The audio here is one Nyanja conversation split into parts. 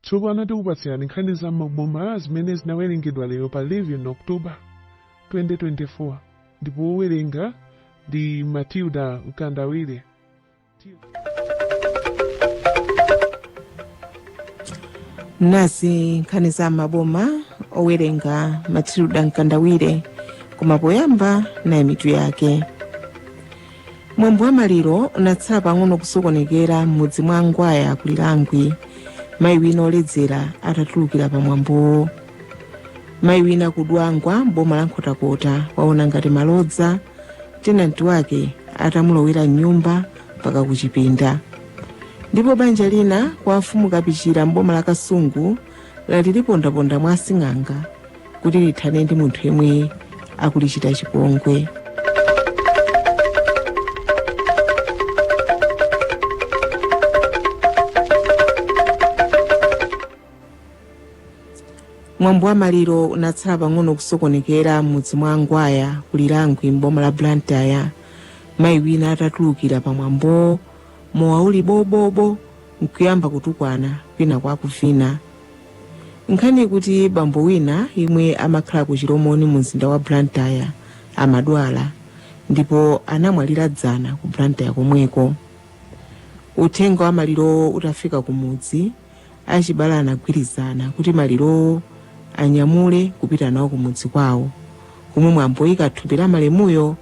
Tsopano tikupatsirani nkhani za m'maboma zimene zinawerengedwa lero pa 11 October 2024 ndipo wowerenga ndi Matilda Mkandawire. nazi nkhani za m'maboma owerenga Matilda Mkandawire koma poyamba nayi mitu yake mwambo wa maliro unatsala pang'ono kusokonekera m'mudzi mwa a Ngwaya ku Lirangwe mayi wina oledzera atatulukira pa mwambowo mayi wina ku Dwangwa m'boma la Nkhotakota waona ngati malodza tenanti wake atamulowera m'nyumba mpaka kuchipinda ndipo banja lina kwa mfumu Kapichira m'boma la Kasungu lati lipondaponda mwa asing'anga kuti lithane ndi munthu yemwe akulichita chipongwe mwambo wa maliro unatsala pang'ono kusokonekera m'mudzi mwa a Ngwaya ku Lirangwe m'boma la Blantyre mayi wina atatulukira pa mwambowo mowa uli bobobo nkuyamba kutukwana kwinaku akuvina Nkhani ikuti bambo wina yemwe amakhala ku Chilomoni mu mzinda wa Blantyre amadwala ndipo anamwalira dzana ku Blantyre komweko. Uthenga wa malirowo utafika ku mudzi, achibale anagwirizana kuti malirowo anyamule kupita nawo ku mudzi kwawo komwe mwambo woyika thupi la malemuyo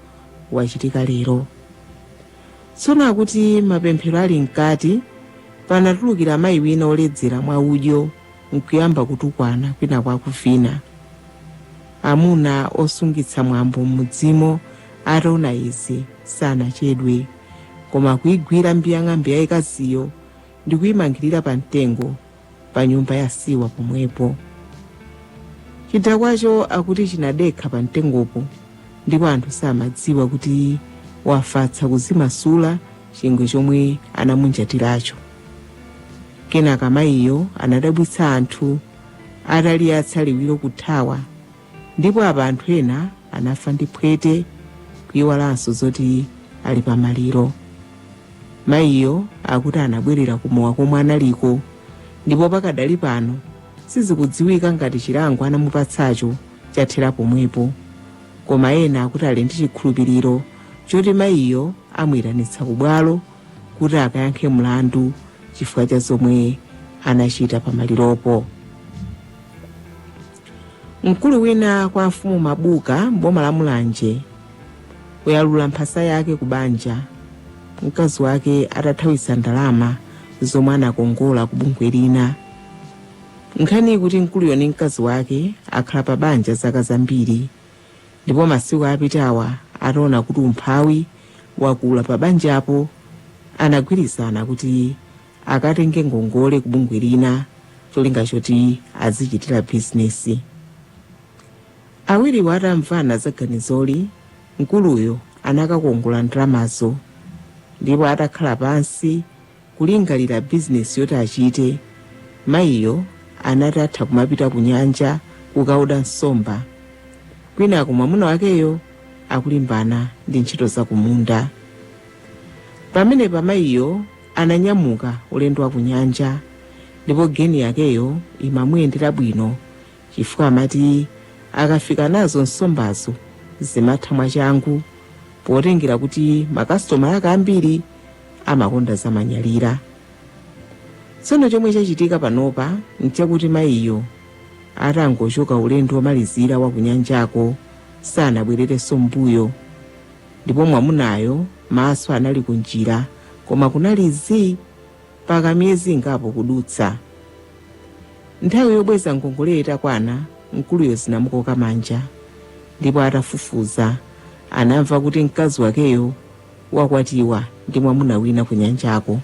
wachitika lero. Tsono akuti mapemphero ali mkati, panatulukira mayi wina oledzera mwa udyo nkuyamba kutukwana kwinaku akuvina. Amuna osungitsa mwambo m'mudzimo ataona izi sanachedwe koma kuigwira mbiyang'ambe yaikaziyo ndikuimangirira pa mtengo. pa nyumba ya siwa pomwepo chidakwacho akuti chinadekha pa mtengopo ndipo anthu samadziwa kuti wafatsa akudzimasula chingwe chomwe anamunjatiracho kenaka mayiyo anadabwitsa anthu ataliyatsa liwiro kuthawa Ndipo apa anthu ena anafa ndi phwete kuiwalanso zoti ali pa maliro. Mayiyo akuti anabwerera ku mowa komwe analiko ndipo pakadali pano sizikudziwika ngati chilango anamupatsacho chathera pomwepo. Koma ena akuti ali ndi chikhulupiriro choti mayiyo amuitanitsa ku bwalo kuti akayankhe mlandu chifukwa cha zomwe anachita pa maliropo. Mkulu wina kwa mfumu Mabuka m'boma la Mulanje wayalula mphasa yake ku banja mkazi wake atathawitsa ndalama zomwe anakongola ku bungwe lina. Nkhani ikuti mkuluyo ndi mkazi wake akhala pa banja zaka zambiri ndipo masiku apitawa ataona kuti umphawi wakula pa banjapo anagwirizana kuti akatenge ngongole ku bungwe lina cholinga choti azichitira bizinesi awiriwo atamvana za ganizoli mkuluyo anakakongola ndalamazo ndipo atakhala pansi kulingalira bizinesi yoti achite mayiyo anati atha kumapita ku nyanja kukaoda nsomba kwinako mwamuna wakeyo akulimbana ndi ntchito za kumunda pamenepa mayiyo ananyamuka ulendo wa kunyanja ndipo geni yakeyo imamuyendera bwino chifukwa amati akafika nazo nsombazo zimatha mwachangu potengera kuti makasitoma ake ambiri amakonda zamanyalira tsono chomwe chachitika panopa nchakuti mayiyo atangochoka ulendo womalizira wa kunyanjako sanabwererenso mmbuyo Ndipo mwamunayo maso anali kunjira, koma kunali zii mpaka miyezi ingapo kudutsa. Nthawi yobweza ngongoleyo itakwana, mkuluyo zinamukhoka manja, ndipo atafufuza anamva kuti mkazi wakeyo wakwatiwa ndi mwamuna wina kunyanjako.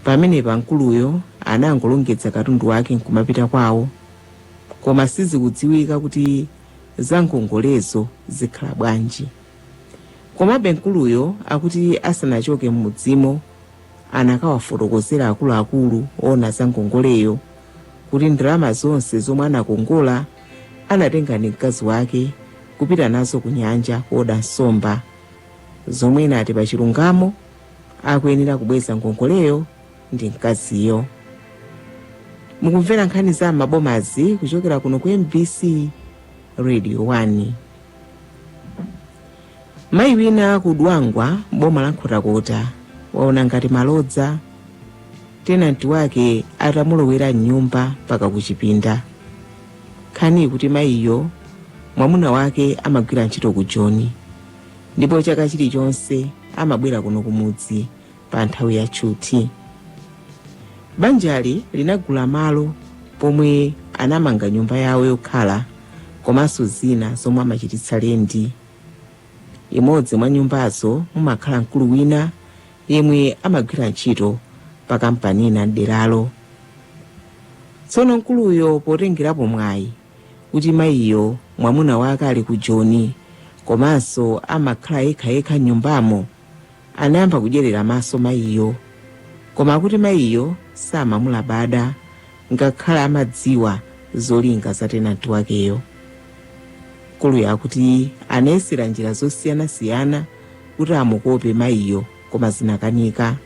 Pamenepa mkuluyo anangolongedza katundu wake nkumapita kwawo, koma sizikudziwika kuti za ngongolezo zikhala bwanji. Komabe mkuluyo akuti asanachoke m'mudzimo anakawafotokozera akuluakulu oona za ngongoleyo kuti ndalama zonse zomwe anakongola anatenga ndi mkazi wake kupita nazo ku nyanja kuoda nsomba zomwe anati pa chilungamo akuyenera kubweza ngongoleyo ndi mkaziyo. Mukumvera nkhani za m'mabomazi kuchokera kuno ku MBC Radio 1. Mayi wina ku Dwangwa m'boma la Nkhotakota waona ngati malodza tenanti wake atamulowera m'nyumba mpaka kuchipinda. Nkhani ikuti mayiyo mwamuna wake amagwira ntchito ku Joni ndipo chaka chilichonse amabwera kuno kumudzi pa nthawi ya tchuthi. Banjali linagula malo pomwe anamanga nyumba yawo yokhala komanso zina zomwe amachititsa lendi. Imodzi mwa nyumbazo mumakhala mkulu wina yemwe amagwira ntchito pa kampani ina m'deralo. Tsono mkuluyo potengerapo mwayi kuti mayiyo mwamuna wake ali ku Joni komanso amakhala yekhayekha m'nyumbamo anayamba kudyerera maso mayiyo. Koma akuti mayiyo samamulabada ngakhale amadziwa zolinga za tenanti wakeyo. Mkuluyo akuti anayesera njira zosiyanasiyana kuti amukope mayiyo koma zinakanika.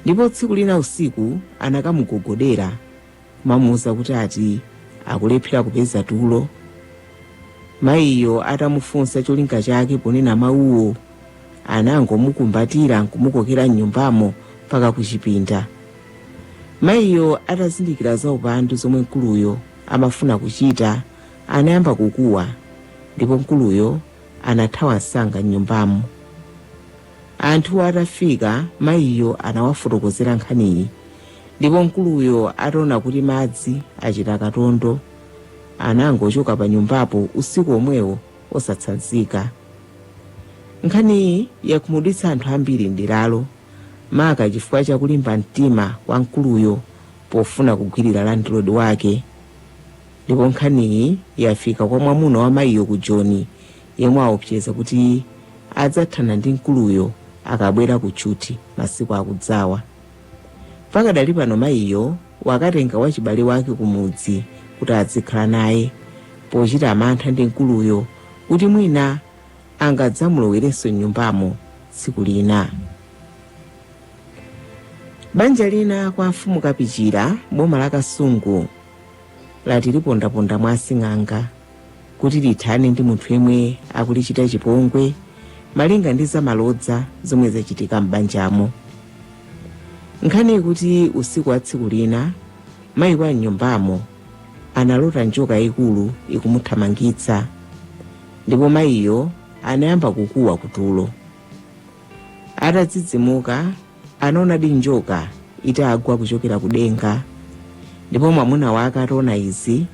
Ndipo tsiku lina usiku anakamugogodera kumamuuza kuti ati akulephera kupeza tulo mayiyo atamufunsa cholinga chake ponena mawuwo anangomukumbatira nkumukokera mnyumbamo mpaka kuchipinda mayiyo atazindikira za upandu zomwe mkuluyo amafuna kuchita anayamba kukuwa ndipo mkuluyo anathawa msanga mnyumbamo anthu atafika mayiyo anawafotokozera nkhaniyi Ndipo mkuluyo ataona kuti madzi achita katondo, anangochoka panyumbapo usiku omwewo osatsanzika. Nkhaniyi yakhumudwitsa anthu ambiri m'deralo, maka chifukwa cha kulimba mtima kwa mkuluyo pofuna kugwirira landlord wake. Ndipo nkhaniyi yafika kwa mwamuna wa mayiyo ku Joni, yemwe waopseza kuti adzathana ndi mkuluyo akabwera kutchuthi masiku akudzawa. Pakadali pano mayiyo wakatenga wachibale wake kumudzi kuti adzikhala naye pochita mantha ndi mkuluyo kuti mwina angadzamulowerenso m'nyumbamo tsiku lina. Banja lina kwa mfumu Kapichira boma la Kasungu lati lipondaponda mwa asing'anga. kuti lithane ndi munthu yemwe akulichita chipongwe malinga ndi zamalodza zomwe zachitika m'banjamo nkhani ikuti usiku wa tsiku lina mayi wa mnyumbamo analota njoka yayikulu ikumuthamangitsa ndipo mayiyo anayamba kukuwa kutulo atadzidzimuka anaonadi njoka itagwa kuchokera kudenga ndipo mwamuna wake ataona izi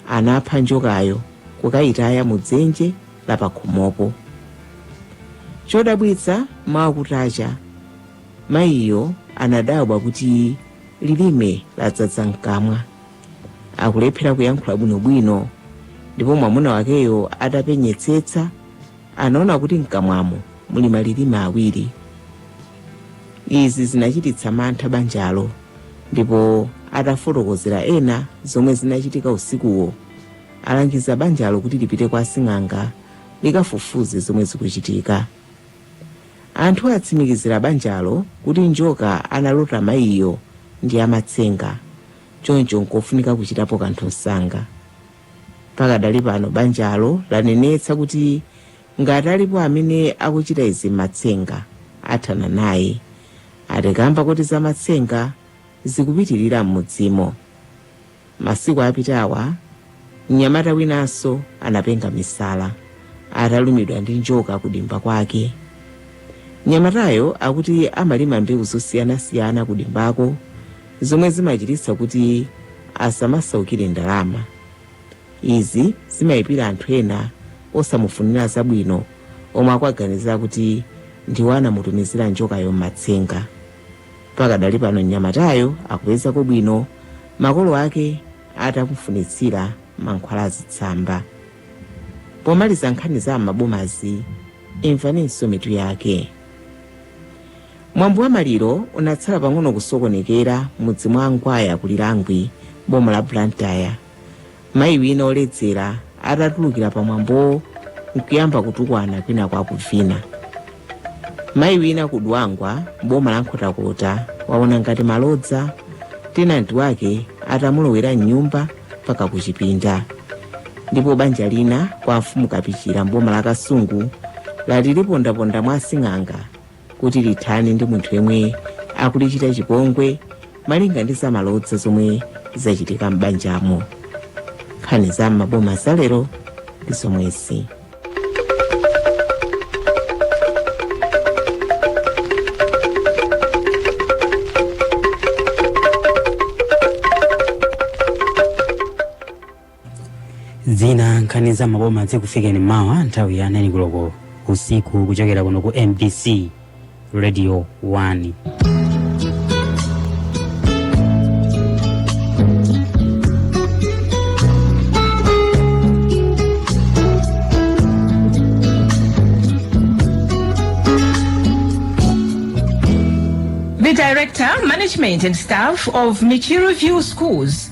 anapha njokayo kukayitaya mu dzenje la pakhomopo chodabwitsa mawa kutacha mayiyo anadabwa kuti lilime ladzadza mkamwa akulephera kuyankhula bwinobwino ndipo mwamuna wakeyo atapenyetsetsa Anaona kuti m'kamwamo muli malilime awiri. Izi zinachititsa mantha banjalo ndipo atafotokozera ena zomwe zinachitika usikuwo, alangiza banjalo kuti lipite kwa asing'anga likafufuze zomwe zikuchitika. Anthu atsimikizira banjalo kuti njoka analota mayiyo ndi yamatsenga, choncho nkofunika kuchitapo kanthu msanga. Pakadali pano banjalo lanenetsa kuti ngati alipo amene akuchita izi mmatsenga athana naye ati kamba koti za matsenga zikupitilira mmudzimo. Masiku apitawa mnyamata winanso anapenga misala atalumidwa ndi njoka ku dimba kwake. Mnyamatayo akuti amalima mbewu zosiyanasiyana ku dimbako zomwe zimachititsa kuti asamasaukire ndalama. Izi zimaipira anthu ena osamufunira zabwino omwe akuwaganizira kuti ndiwo anamutumizira njokayo m'matsenga. Pakadali pano mnyamatayo akupezako bwino makolo ake atamufunitsira mankhwala azitsamba. Pomaliza nkhani za m'mabomazi, imvaninso mitu yake. Mwambo wa maliro unatsala pang'ono kusokonekera m'mudzi mwa Angwaya ku Lirangwe m'boma la Blantyre mayi wina oledzera atatulukira pa mwambowo nkuyamba kutukwana kwinaku akuvina. Mayi wina ku Dwangwa m'boma la Nkhotakota waona ngati malodza tenanti wake atamulowera m'nyumba mpaka kuchipinda. Ndipo banja lina kwa mfumu Kapichira m'boma la Kasungu lati lipondaponda mwa asing'anga kuti lithane ndi munthu yemwe akulichita chipongwe malinga ndi zamalodza zomwe zachitika m'banjamo nkhani za m'maboma zalero ndi zomwezi zina nkhani za m'maboma zikufikeni mawa nthawi ya 9 koloko usiku kuchokera kuno ku mbc radio 1 The director, management, and staff of Michiru View Schools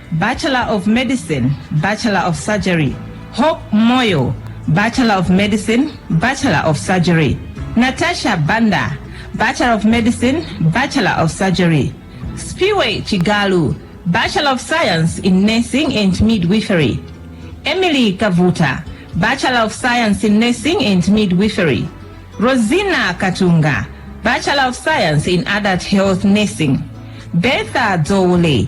Bachelor of Medicine, Bachelor of Surgery, Hope Moyo, Bachelor of Medicine, Bachelor of Surgery, Natasha Banda, Bachelor of Medicine, Bachelor of Surgery, Spiwe Chigalu, Bachelor of Science in Nursing and Midwifery, Emily Kavuta, Bachelor of Science in Nursing and Midwifery, Rosina Katunga, Bachelor of Science in Adult Health Nursing, Bertha Dole,